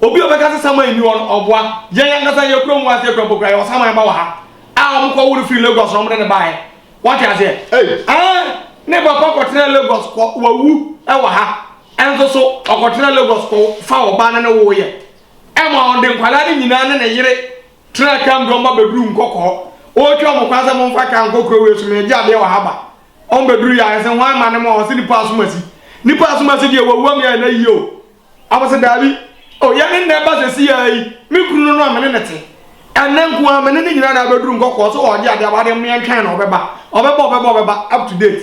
Obi a ɔbɛka sɛ saman nni hɔ no, ɔboa. Yɛn ankasa yɛn kurom hɔ a, sɛ yɛkura mpo koraa, yɛwɔ saman ba wɔ ha a wɔkɔ wo no firi Lagos na wɔde no baeɛ. Woate aseɛ? Ei! Aane! Ne papa kɔtenaa Lagos kɔ, wawu wɔ ha. Ɛno nso so, ɔkɔtenaa Lagos kɔ fa ɔbaa no ne woeɛ. Ɛma ɔde nkwadaa no nyinaa ne ne yere tenaa kaa mu de wɔn ba bɛduruu Nkɔkɔɔ. Ɔretwa wɔn kwan sɛ momfa kaa nkɔ kuro wei so, meregye adeɛ wɔ ha ba. Wɔbɛduruiɛ a, yɛse hwan ma no ma? Ɔse nnipa asomasi. Nnipa asomasi deɛ, wawu ama yɛn ayie o. Ɔmo se, Daabi, O yɛn nna ɛba sesiyɛ yi, me kunu no a me ne no te, ɛnnɛ nko ara me ne no nyinaa na abɛduru nkɔkɔɔ so ɔɔgye adeɛ, awadeɛ mo yɛntwɛn no ɔbɛba, ɔbɛba, ɔbɛba, ɔbɛba, up to date,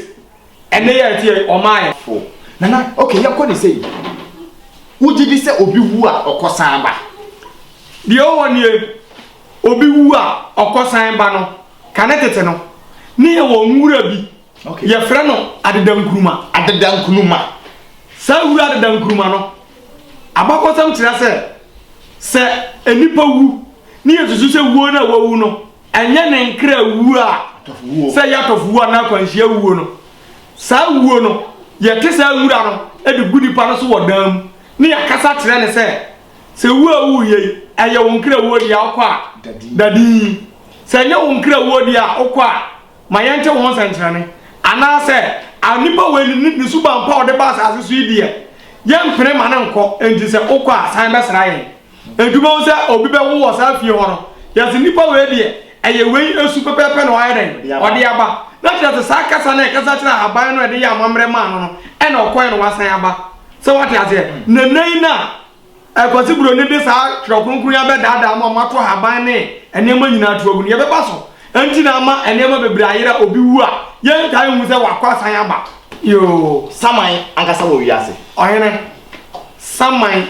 ɛnnɛ yi a ɛteɛ yi ɔmmaeɛ. Fo, Nana, ok yɛnkɔ ne sei, wogye di sɛ obi wu a ɔkɔ san ba? Deɛ ɛwɔ hɔ nie, obi wu a ɔkɔ san ba no, kane tete no, ne yɛwɔ nwura bi, Okay. Yɛfrɛ no adeda nkuruma. Adeda nkuruma. Saa wura adeda nkuruma no, abakɔsɛm kyerɛ sɛ sɛ nipa wu ne yɛsusu sɛ wuo no a wawu no ɛnyɛ ne nkra wuo a sɛ ɛyɛ atɔfo wuo anaa akwanhyia wuo no saa wuo no yɛte saa wura no de gu nipa no so wɔ dan mu ne yɛkasa kyerɛ ne sɛ sɛ wuo a wuo yɛ ɛyɛ wo nkra wuo deɛ wokɔ a dadin sɛ ɛnyɛ wo nkra wuo deɛ a wokɔ a Ma yɛnte wɔn sɛnkyerɛnne. Anaasɛ, a nnipa wei ne ne suban pa a ɔde ba asase so yi deɛ, yɛmpene mma no nkɔ, enti sɛ ɔkɔ a, san bɛsra yɛn. Enti wobɛhu sɛ obi bɛwo wɔ saa fie hɔ no, yɛse, Nnipa wei deɛ, ɛyɛ wei su pɛpɛɛpɛ na ɔayɛ dɛn? Ɔde aba. Na kyerɛ sɛ, saa kasa no a ɛkasa kyerɛ ahaban no a ɛde yɛɛ amammerɛ maa no no, ɛna ɔkɔeɛ na wasan aba. Sɛ woate aseɛ? Na nnɛ yi no a Kwasi Broni de saa Twerɛ Kronkron yi abɛdaadaa mo a moato ahaban ne nneɛma nyinaa to agu no. Yɛbɛba so nti na ama nneɛma bebree ayera a obi wu a, yɛntaa nhu sɛ wakɔ asan aba. Yoo, saman ankasa wɔ wiase. Ɔhene, saman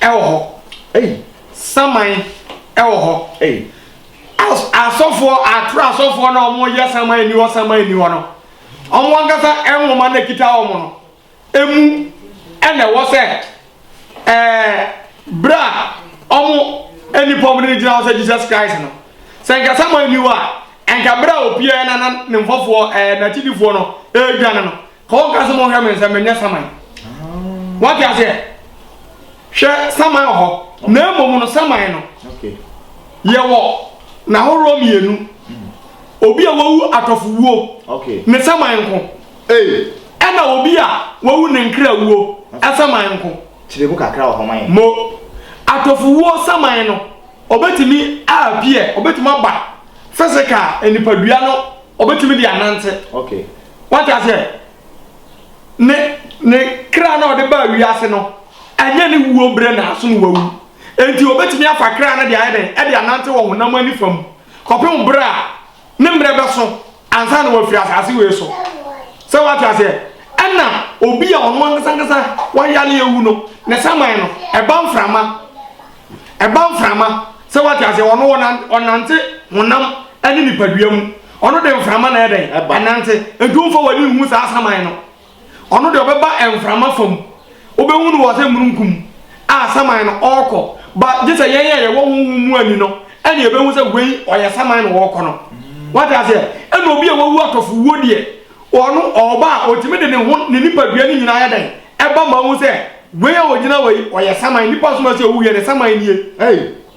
wɔ hɔ. Ei. Saman wɔ hɔ. Ei. As, asɔfoɔ, atoro asɔfoɔ no a wɔyɛ saman nni hɔ, saman nni hɔ no, wɔn ankasa nwoma no a ɛkita wɔn no, mu na ɛwɔ sɛ ɛɛ bere a wɔn nipa wɔn de gyina hɔ sɛ jesus christ no sɛ nka samuel ni hɔ a nka bere a opiaɛ na na ne mfɔfoɔ ɛɛ n'akyidifoɔ no ɛredwane no ka wɔn ka sɛ mo hwɛ me nsɛm menyɛ saman wɔte aseɛ hwɛ saman wɔ hɔ na mmom no saman no yɛwɔ n'ahoroɔ mmienu obi a wawu atɔfowuo ne saman nko Ei! Ɛna obi a wawu ne nkra wuo saman nko. Kyerɛ mu kakra wɔ hɔ ma yɛn. Mo atɔfowuo saman no ɔbɛtumi a appear, ɔbɛtumi aba physical a nipadua no ɔbɛtumi de anante. Okay. Wate aseɛ? Ne, ne kra no a ɔde baa wiase no, ɛnyɛ ne wuo berɛ na so na wawu. Enti ɔbɛtumi afa kra no de ayɛ dɛn? De anante wɔ honam anifam kɔpem berɛ a. Ne mmerɛ bɛso ansa na wafiri asase wei so. Sɛ wate aseɛ? Ɛna obi a ɔno ankasa ankasa wayare awu no, ne saman no, ɛba mframa. Ɛba mframa. Sɛ wate aseɛ? Ɔno ɔna, ɔnante honam ne nipadua mu. Ɔno de mframa na ɛdɛn? Ɛnante. Nti womfa w'ani nhu saa saman no. Ɔno deɛ ɔbɛba mframa fam. Wobɛhu no wɔ sɛ mununkum a saman no ɔɔkɔ. Ba gye sɛ yɛn a yɛwɔ honhom mu ani no ɛne yɛbɛhu sɛ wei ɔyɛ saman na ɔɔkɔ no. Wate aseɛ? Ɛna obi a wawu atɔfowuo deɛ, ɔno ɔɔba a ɔtumi de ne ho ne nipadua no nyinaa yɛ dɛn? Ɛba ma wohu sɛ wei a ɔgyina hɔ yi ɔyɛ saman. Nipa som a ɛsɛ ɔwu wie no saman nie. Ei!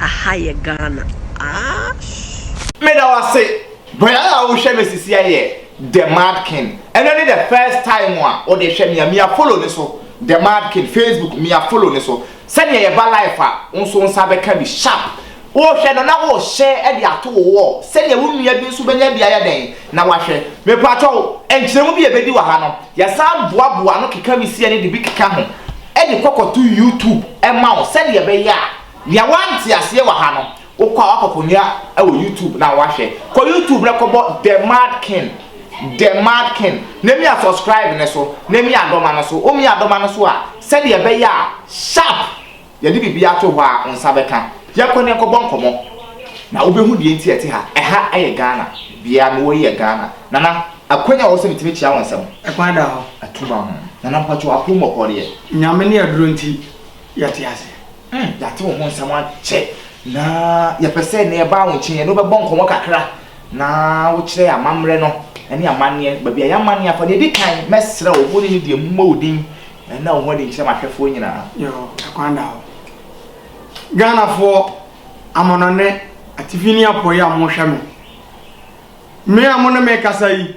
Aha yɛ Ghana aahh. Meda wo ase bra a wohwɛ me sisi ɛyɛ The Mad King ɛnɛ ne the first time a wode hwɛ me a mea follow ne so The Mad King Facebook mea follow ne so sɛnea yɛba life a wo nso wo nsa bɛka bi sharp Worehwɛ no na worehyɛ de ato wo wɔ sɛdeɛ wo nua bi nso bɛnya bi ayɛ dɛn na wahwɛ. Mepakyɛw, nkyerɛmu bi a ɛbɛdi wɔ ha no, yɛsan boaboa ano keka wisie ne de bi keka ho de kɔ kɔto YouTube ma wo sɛdeɛ ɛbɛyɛ a nea woante aseɛ wɔ ha no, wokɔ a woakɔkɔnya wɔ YouTube na woahwɛ. Kɔ YouTube na kɔbɔ The Mad King, The Mad King, na mia subscribe no so, na mia dɔma no so. Womia dɔma no so a, sɛdeɛ ɛbɛyɛ a sharp Yɛde biribi ato hɔ a wo nsa bɛka? Yɛnkɔ na yɛnkɔbɔ nkɔmmɔ na wobɛhu deɛ nti a ɛte ha. Ɛha yɛ Ghana. Bea a mewɔ yi yɛ Ghana. Nana, ɛkwan a ɛwɔ sɛ metumi kyea wo nsam? Ɛkwan da hɔ. Atom a ho. Nana, mpakyɛ wo apom wɔ hɔ deɛ? Nyame ne aduro nti, yɛte ase. Yɛate wo ho nsɛm akyɛ na yɛpɛ sɛ nea yɛbaa wo nkyɛn yi, yɛne wo bɛbɔ nkɔmmɔ kakra. Na wokyerɛ amammerɛ no ne amanneɛ no, baabi a yɛamanne afa. Nea edi kan, mɛsrɛ wo, wo ne ne deɛ mommɔ wo din na wo ho adi nkyerɛ m'ahwɛfoɔ nyinaa. Yoo, ɛkwan da hɔ. Ghanafoɔ amanɔnne atifi ne apueɛ a mohwɛ me, me a mo ne me rekasa yi,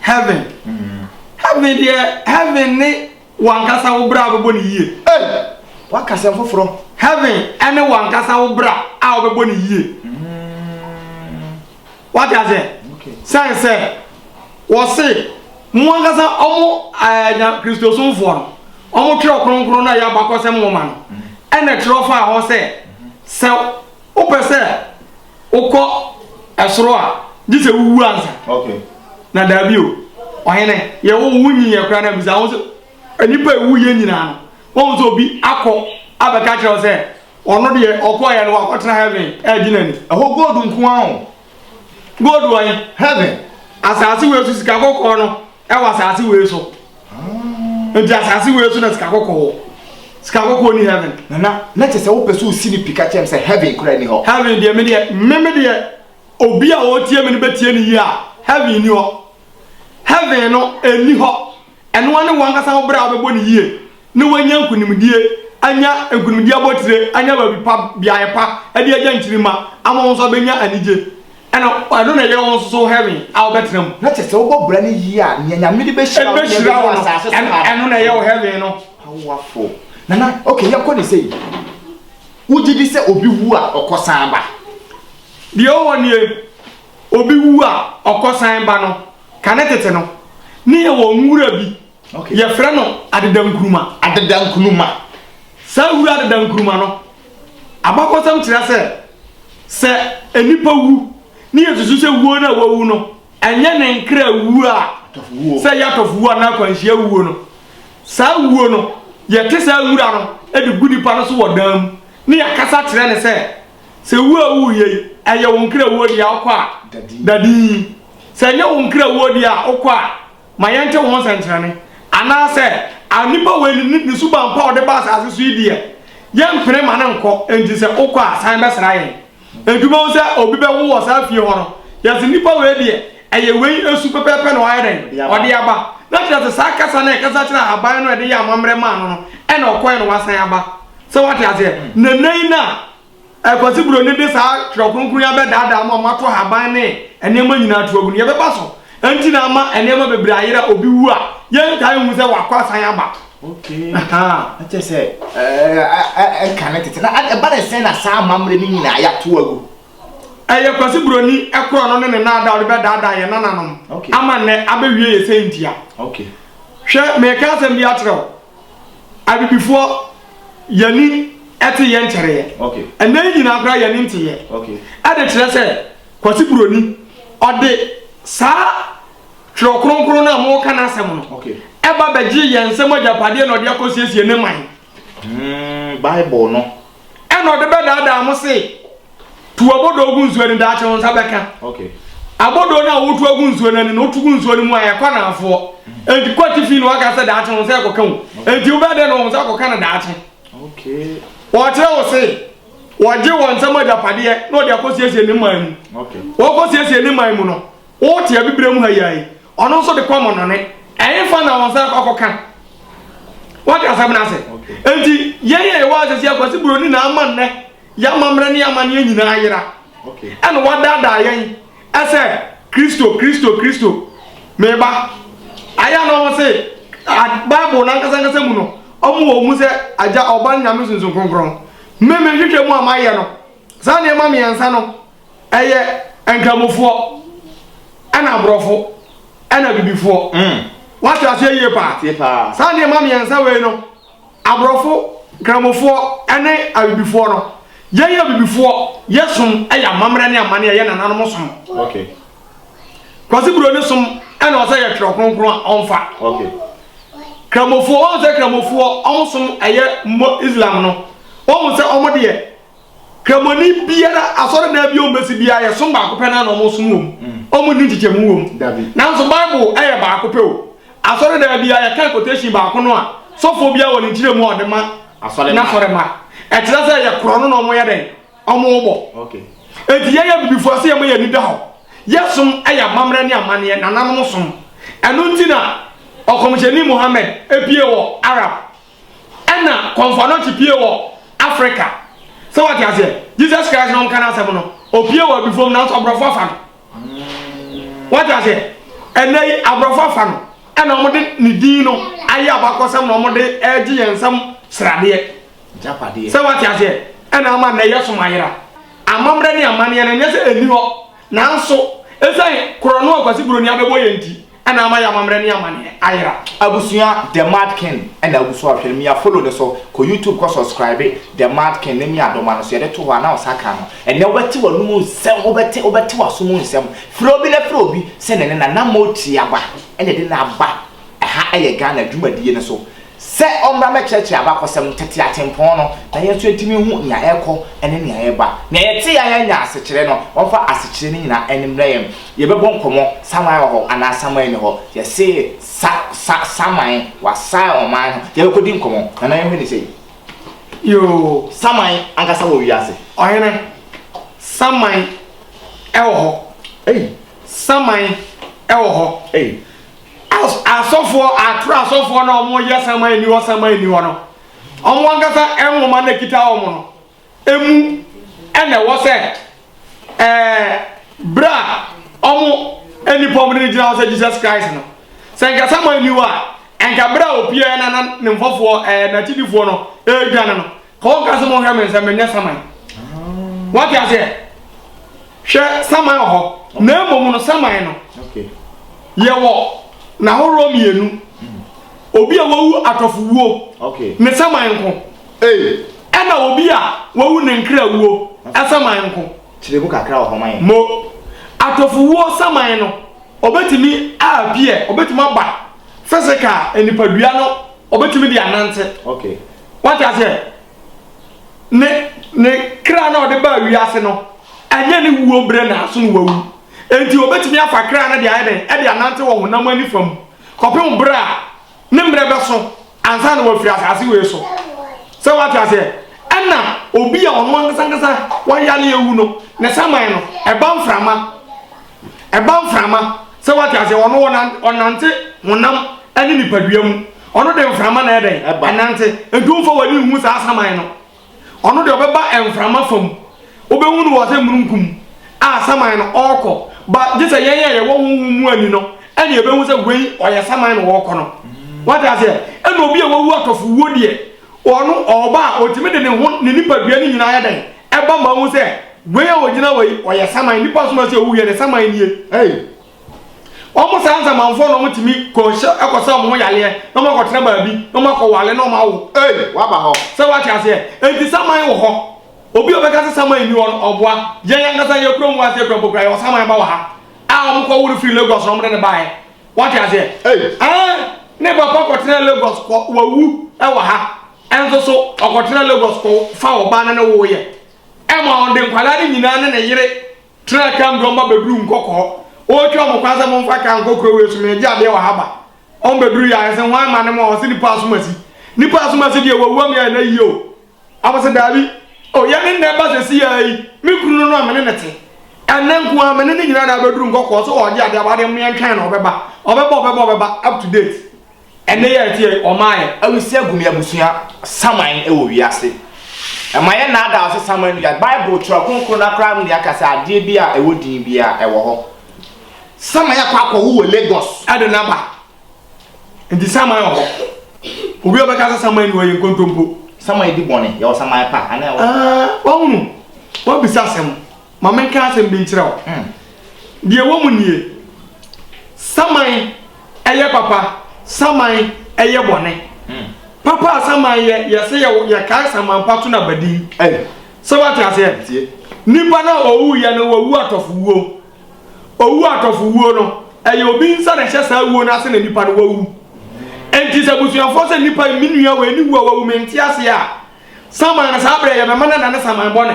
Heaven heaven deɛ heaven ne wankasa wo bra a wobɛbɔ ne yie. Hey! Waka sɛm foforɔ. Heaven ɛne wankasa wo bra a wobɛbɔ ne yie. Wate aseɛ? Sɛn sɛ wɔse mo ankasa ɔmo ɛɛ nya kristosomfoɔ no ɔmo twerɛ kronkron no a ɛyɛ abakɔsɛm nwoma no ɛna ɛtwerɛ faa hɔ sɛ sɛ wopɛ sɛ Wokɔ ɛsoro a, gye sɛ wuwu ansa. Okay. Na daabi o, ɔhene, yɛwo wo wonyi yɛ koraa na bisa ho sɛ, nnipa a ɛwu yɛ nyinaa no, wɔn sɛ obi akɔ abɛka kyerɛ wo sɛ, ɔno deɛ ɔkɔɔyɛ no wakɔtena heaven ɛregye n'ani. Ɛhɔ gold nko ara o. Gold wɔ he? Heaven. Asase wei so sika kɔkɔɔ no. ɛwɔ asase wei so nti asase wei so na sika kɔkɔɔ wɔ sika kɔkɔɔ ni heaven nana na kyɛ sɛ wopɛ sɛ wosi ne pi ka kyerɛ m sɛ heaven kora ni hɔ heaven deɛ me deɛ me me deɛ obi a ɔtie me no bɛtie ne yie a heaven ni hɔ heaven no ɛni hɔ ɛnoa ne wankasa wo berɛ a wobɛbɔ ne yie na wanya nkonimdie, anya nkonimdie abotire, anya baabi pa, beaeɛ pa de agya nkyirimma ama wɔn nso abɛnya anigye, ɛna ɛno na ɛyɛ wɔn nso so heaven a wɔbɛtena mu. Na kyerɛ sɛ wobɔ bra no yie a, nea Nyame de bɛhyira wo ne nea ɛbɛnya asase so ha no, ɛno na ɛyɛ wo heaven no. Powerful. Nana, okay, yɛkɔ ne sei. Wogye di sɛ obi wu a, ɔkɔ san ba? Deɛ ɛwɔ hɔ nie, obi wu a, ɔkɔ san ba no, kane tete no, ne yɛwɔ nwura bi Okay. Yɛfrɛ no adeda nkuruma. Adeda nkuruma. Saa wura adeda nkuruma no, abakɔsɛm kyerɛ sɛ sɛ nipa wu ne yɛsusu sɛ wuo no a wawu no ɛnyɛ ne nkra wuo a sɛ yɛatɔfo wuo anaa akwanhyia wuo no saa wuo no yɛte saa wura no de gu nipa no so wɔ dan mu ne yɛakasa kyerɛ ne sɛ sɛ wuo a wuo yei ɛyɛ wo nkra wuo deɛ wokɔ a dadin sɛ ɛnyɛ wo nkra wuo deɛ a wokɔ a ma yɛnte wɔn sɛnkyerɛnne, anaasɛ a nnipa wei ne ne suban pa a ɔde ba asase so yi deɛ, yɛmpene ma no nkɔ, enti sɛ wokɔ a, san bɛsra yɛn. Enti wobɛhu sɛ obi bɛwo wɔ saa fie hɔ no, yɛse nnipa wei deɛ, ɛyɛ wei su pɛpɛɛpɛ na wayɛ dɛn? Ɔde aba. Na kyerɛ sɛ saa kasa no a ɛkasa kyerɛ ahaban no a ɛde yɛɛ amammerɛ maa no no, ɛna ɔkɔeɛ na wasan aba. Sɛ woate aseɛ? Na nnɛ yi no a Kwasi Broni de saa Twerɛ Kronkron yi abɛdaadaa mo a moato haban ne nneɛma nyinaa to agu. Nea ɛbɛba so nti na ama nneɛma bebree ayera, obi wu a, yɛntaa nhu sɛ wakɔ asan aba. Okay. Ahaa. Na kyerɛ sɛ, ɛɛ, ɛka ne tete. Na ɛba ne sɛn na saa amammerɛ no nyinaa yɛato agu? Ɛyɛ Kwasi Broni korɔno ne ne nnaadaa a ɔde bɛdaadaa yɛn nananom Okay. ama nnɛ abɛwie yɛn sɛntia. Okay. Hwɛ, mereka asɛm bi akyerɛ wo. Abibifoɔ yɛn ani te yɛn nkyɛreeɛ. Okay. Ɛnɛ yi nyinaa koraa yɛn ani nteeɛ. Okay. Ɛde kyerɛ sɛ Kwasi Buroni ɔde saa twerɛ kronkron no a moka n'asɛm no Okay. ɛba bɛgye yɛn nsɛm agyapadeɛ na ɔde akɔsiesie ne man. Mm, Bible no. Ɛna ɔde bɛdaadaa mo se Tu abodoo gu nsuo ani daakye wo nsa bɛka. Abodoo no a wotu agu nsuo no ani no wotu gu nsuo no mu a ɛkɔ anaafoɔ. Enti kɔ atifi na waka sɛ daakye wo nsa ɛkɔka wo. Enti wobɛyɛ dɛn na wo nsa akɔka no daakye? Wɔkyerɛ wo se wɔgye wɔn nsam agyapadeɛ na wɔde akɔsiesie ne man mu. Wɔkɔsiesie ne man mu no, wote abibire mu ha yi ayi. Ɔno nso de kɔ amɔnɔne. Ɛhefa na wo nsa akɔ akɔka? Wate asɛm no ase? Enti yɛn a yɛwɔ ha sɛsi akwasi buroni na ama nnɛ. Yɛn amammerɛ ne yɛn amanneɛ nyinaa ayera, ɛna wɔadaadaa yɛn sɛ, Kristo, Kristo, Kristo, mereba. Ayɛ a na wɔn se, Bible no ankasa ankasa mu no, wɔn wɔ wɔn mu sɛ Agya, Ɔba, ne Nyame Sunsum Kronkron. Me, me nhwehwɛ mu a mayɛ no, saa nneɛma mmiɛnsa no, ɛyɛ Nkramofoɔ, ɛna Aborɔfo, ɛna Abibifoɔ. Wate aseɛ yie paa? Saa nneɛma mmiɛnsa wei no. Aborɔfo, Nkramofoɔ ne Abibifoɔ no, yɛn yɛ Abibifoɔ, yɛ som yɛ amammerɛ ne amanneɛ a yɛn nananom som. Okay. Kwasi Buroni som na ɔsɛ yɛ twerɛ kronkron a ɔmfa. Okay. Kramofoɔ, wɔn sɛ Kramofoɔ, wɔn som ɛyɛ Islam no, wɔn sɛ wɔn deɛ. Kramoni biara, asɔredan bi a wɔbɛsi biara, yɛ som baako pɛ no ara na wɔsom wom. Wɔnni nkyekyɛmu wom. Nanso Bible yɛ baako pɛ o. Asɔredan biara, yɛkan quotation baako no a, sɔfoɔ biara wɔ ne nkyerɛmu a ɔde ma n'asɔremma. Ɛkyerɛ sɛ yɛ korɔ no na wɔyɛ dɛn? Wɔbɔ. Enti yɛyɛ Abibifoɔ a, sɛ yɛma yɛn ani da hɔ. Yɛ som yɛ amammerɛ ne amanneɛ, nananom som. Ɛno nti na Ɔkɔmhyɛni Muhammad pue wɔ Arab. Ɛna kɔmfoa no te pie wɔ Africa sɛ wate aseɛ Jesus Christ no nka no asɛm no opie wɔ abifom nanso aborɔfo afa no wate aseɛ ɛnɛ yi aborɔfo afa no ɛna wɔn de ne din no ayɛ abakɔsɛm na wɔn de ɛregye yɛn nsɛm sradeɛ sɛ wate aseɛ ɛna ama nnɛ yɛ som ayera amammerɛ ne amanneɛ no nyɛ sɛ ɛni hɔ Nanso, esiane korɔno a Ɔkwasi Buroni abɛbɔ yɛn nti na ama yɛn amammerɛ ne amanneɛ ayera. Abusua The Mad King na agu so a hwɛ no mia follow no so kɔ YouTube kɔ subscribe The Mad King ne mia dɔma no so yɛde to hɔ a na ɔsa ka no ɛnɛ wobɛte w'anom nsɛm wobɛte wobɛte w'asom nsɛm frɛ obi na frɛ obi sɛ ne ne na na motie aba ɛna ɛde no aba ɛha ɛyɛ Ghana dwumadie no so Sɛ ɔmmra mmɛkyerɛkyerɛ abakɔsɛm no, tete atempɔn no, na yɛn nso yɛntumi nhu nea ɛrekɔ ne nea ɛreba. Nea yɛtee a yɛanya asekyerɛ no, wɔmfa asekyerɛ no nyinaa mmrɛ yɛn. Yɛbɛbɔ nkɔmmɔ, saman wɔ hɔ anaa saman nni hɔ? Yɛse sa, sa, saman, wɔasan ɔman no. Yɛbɛkɔdi nkɔmmɔ. Nana yɛnhwɛ no sei. Yoo, saman ankasa wɔ wiase. Ɔhene, saman wɔ hɔ. Ei! Saman wɔ hɔ. Ei! Asɔfoɔ atwerɛ asɔfoɔ no a wɔyɛ saman ni hɔ saman ni hɔ no wɔn ankasa nwoma no kita wɔn no emu ɛna ɛwɔ sɛ ɛɛ berɛ a wɔn nipa wɔn no gyina hɔ sɛ Jesus Christ no sɛ nka saman ni hɔ a nka berɛ a opiaɛ na ne mfɔfoɔ ɛɛ n'akyidifoɔ no ɛredwane no Paul ka sɛ monhwɛ me nsɛ menyɛ saman. Wate aseɛ? Hwɛ saman wɔ hɔ na mmom no saman no yɛwɔ n'ahoroɔ mmienu. Hmm. Obi a wawu atɔfo wuo ne saman nko. Ɛna obi a wawu ne nkra wuo saman nko. Kyerɛ mu kakra wɔ hɔ man. Mo atɔfo wuo saman no ɔbɛtumi apiɛ ɔbɛtumi aba fɛsɛ ka nipadua no ɔbɛtumi de anante. Okay. Wate aseɛ? Ne, ne kra no a ɔde baa wiase no, ɛnyɛ ne wuo berɛ na aso no wawu. Enti wɔbɛtumi afa kra no de ayɛ dɛn? Ɛde anante wɔ honam ani fa mu, kɔpem berɛ a ne mmerɛ bɛso ansa na wafiri asase wei so. Sɛ wate aseɛ? Ɛna obi a ɔno ankasa ankasa wayareɛ wu no, ne saman no, ɛba mframa. Ɛba mframa, sɛ wate aseɛ, ɔno ɔna, ɔnante honam ne nipadua mu. Ɔno de mframa na ɛdɛn? Ɛba. Ɛnante. Nti womfa w'ani nhu saa saman no. Ɔno deɛ ɔbɛba mframa fam. Wobɛhu no wɔ sɛ mununkum a saman no ɔrekɔ. Ba gye sɛ yɛn a yɛwɔ honhom mu ani no ɛne ɛbɛhu sɛ wei ɔyɛ saman na ɔrekɔ no. Wate aseɛ? Ɛna obi a wawu atɔfowuo deɛ, Ɔno, ɔba a, ɔtumi de ne ho, ne nipadua no nyinaa yɛ dɛn? Ɛba ma wohu sɛ, wei a ɔgyina hɔ yi, ɔyɛ saman. Nnipa som a ɛsɛ sɛ wɔwu yɛ ne saman nie. Ei! Wɔn saa nsamanfoɔ na wɔtumi kɔhyɛ, kɔsa wɔn ho yareɛ, na wɔakɔtena baabi, na wɔakɔware, na wɔawo. Ei! Wɔaba hɔ. Sɛ woate aseɛ? Enti saman wɔ hɔ. Obi a ɔbɛka sɛ saman nni hɔ no, ɔboa. Yɛn ankasa yɛn kurom wɔ ha, sɛ yɛkura mpokuwa, yɛwɔ saman ba wɔ ha a wɔkɔworo firii Lagos na wɔde no baeɛ. Wate aseɛ? Ei! Ɛɛ, ne papa kɔtenaa Lagos kɔ, wawu wɔ ha. Ɛnso so, ɔkɔtenaa Lagos kɔ fa ɔbaa no ne woeɛ. Ɛma ɔde nkwadaa no nyinaa ne ne yere tenaa Camp de wɔn ba bɛduruu Nkɔkɔɔ. Ɔretwa wɔn kwan sɛ momfa kaa nkɔ kuro wei so, meregye adeɛ wɔ ha ba. Wɔbɛdurui a, yɛse hwan ma ne mo a, ɔse nipa asomasi. Nipa asomasi deɛ, wawu ama yɛayɛ no ayie o. Ɔmo se, Daabi, O yɛn nna ɛba sesiyɛ yi, me kunu no a me ne no te, ɛnnɛ nko ara me ne no nyinaa na abɛduru nkɔkɔɔ so ɔɔgye adeɛ, awadeɛ mo yɛntwɛn no ɔbɛba, ɔbɛba, ɔbɛba, ɔbɛba, up to date, ɛnnɛ yi a ɛteɛ yi ɔmmaeɛ. Awisi agu me abusua saman wɔ wiase. Mma yɛnnaadaa so saman wiase. Bible twerɛ kronkron no ara koraa mu deɛ aka sɛ adeɛ biara a ɛwɔ din biara ɛwɔ hɔ. Saman akɔ akɔwo wɔ Lagos. Ɛde no aba. Nti saman wɔ hɔ. Obi a ɔbɛka sɛ saman ni hɔ yɛ nkontompo. Saman di bɔne, yɛwɔ saman pa anaa ɛwɔ. Ah, wahunu, wabisa asɛm. Ma menka asɛm bi nkyerɛ wo. Mm. Deɛ ɛwɔ mu nie, saman ɛyɛ papa, saman ɛyɛ bɔne. Mm. Papa a saman yɛ, yɛsɛ yɛ, yɛkae saman pa to no abadin. Hey. Sɛ wate aseɛ? Nipa no a ɔwuiɛ no, wawu atɔfo wuo. Owu atɔfowuo no, ɛyɛ obi nsa na ɛhyɛ saa wuo no ase na nipa no wawu. Enti sɛ abusuafoɔ sɛ nipa yi, me nua wei ne wu a wawu, mente aseɛ a, saman no saa berɛ yɛbɛma no adane saman bɔne.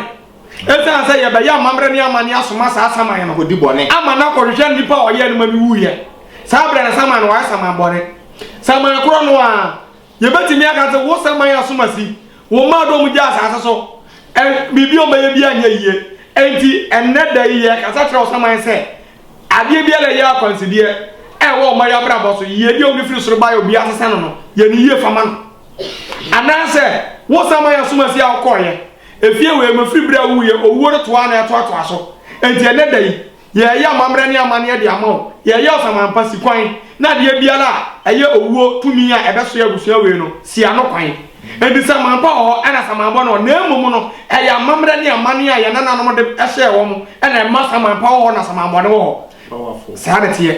Ɛsiane sɛ yɛbɛyɛ amammerɛ ne amanneɛ asoma saa saman no hɔ di bɔne ama no akɔhwehwɛ nipa a ɔyɛɛ no ma no wuiɛ, saa berɛ no saman no wayɛ saman bɔne. Saman korɔ no ara. Yɛbɛtumi aka sɛ wo sɛ man asomasi, wo mmaa dɔ mu gya asase so, ɛ, biribi a wɔbɛyɛ biara nyɛ yie. Enti, ɛnnɛ da yi yɛrekasa kyerɛ wo sɛ man sɛ, adeɛ biara a ɛyɛ akwansideɛ a ɛwɔ wo mma yɛ abrabɔ so, yiedie a wɔde firi soro baeɛ a obiara sesa no no, yɛ no yie fa ma no. Anaasɛ, wo sɛ man asomasi a wokɔeɛ, efie wei mu, ɛfiri berɛ a wowuiɛ, owuo no toaa na ɛtoatoaa so. Enti, ɛnnɛ da yi. Yɛreyɛ amammerɛ ne amanneɛ de ama wo. Yɛreyɛ ɔsaman pa, si kwan, na adeɛ biara a ɛyɛ owuo tumi a ɛbɛsoɛ abusua wei no, si ano kwan. Enti saman pa wɔ hɔ na saman bɔne wɔ hɔ, na mmom no, ɛyɛ amammerɛ ne amanneɛ a yɛn nananom de hyɛɛ wɔn na ɛma saman pa wɔ hɔ na saman bɔne wɔ hɔ. Saa na ɛteɛ.